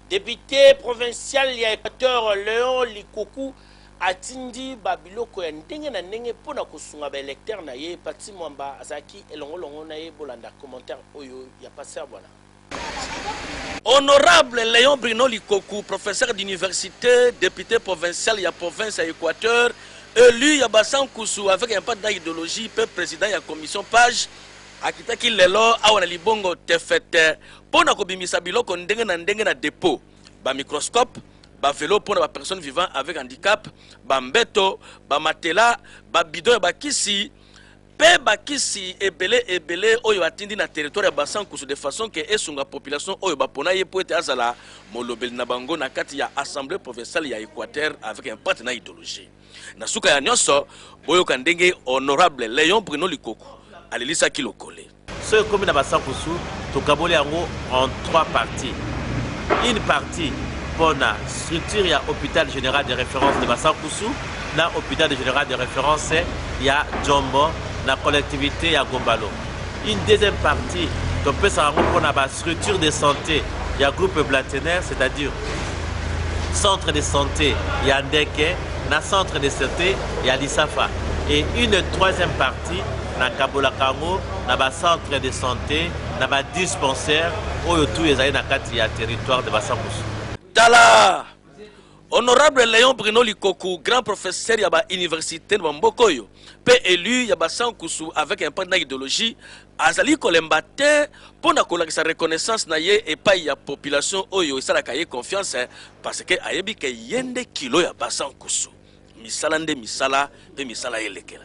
Depute provincial ya Equateur Leon Likoku atindi ba biloko ya ndenge na ndenge mpo na kosunga ba electeurs na ye. Patsy Mwamba azalaki elongo longo na ye. Bolanda commentaire oyo ya Pasteur Bwana. Honorable Leon Bruno Likoku, professeur d'universite, depute provincial ya province ya Equateur, elu ya Basankusu avec un parti na ideologie mpe president ya commission page, akitaki lelo awa na libongo Tefete mpo na kobimisa biloko ndenge na ndenge na depo, ba microscopes, ba velos mpo na ba personnes vivant avec handicap, ba mbeto, ba matelas, ba bidons ya ba kisi mpe ba kisi ebele ebele oyo atindi na territoire ya Bassa Nkusu de façon que esunga population oyo bapona ye mpo ete azala molobeli na bango na kati ya Assemblee provinciale ya Equateur avec impact na ideologie. Na suka ya nionso, boyoka ndenge Honorable Leon Bruno Likoko alelisaki Lokole. Soki ekomi na basankusu, tokaboli yango en trois parties. Une partie mpo na structure ya hôpital général de référence de basankusu na hôpital général de référence ya Jombo na collectivité ya Gombalo. Une deuxième partie topesaka yango mpo na bastructure de santé ya groupe Blatener, c'est-à-dire centre de santé ya Ndeke na centre de santé ya Lisafa. Et une troisième partie Ti na kabolaka yango na ba centre de sante na ba dispensaire oyo tu ezali na kati ya territoire de Basankusu. Tala honorable Leon Bruno Likoku, grand professeur ya ba université na mboka oyo pe élu ya Basankusu avec impact na idéologie azali kolemba te mpo na kolakisa reconnaissance na ye epai ya population oyo esalaka ye confiance parce que ayebi ke ye nde kilo ya Basankusu. Misala nde misala pe misala elekela.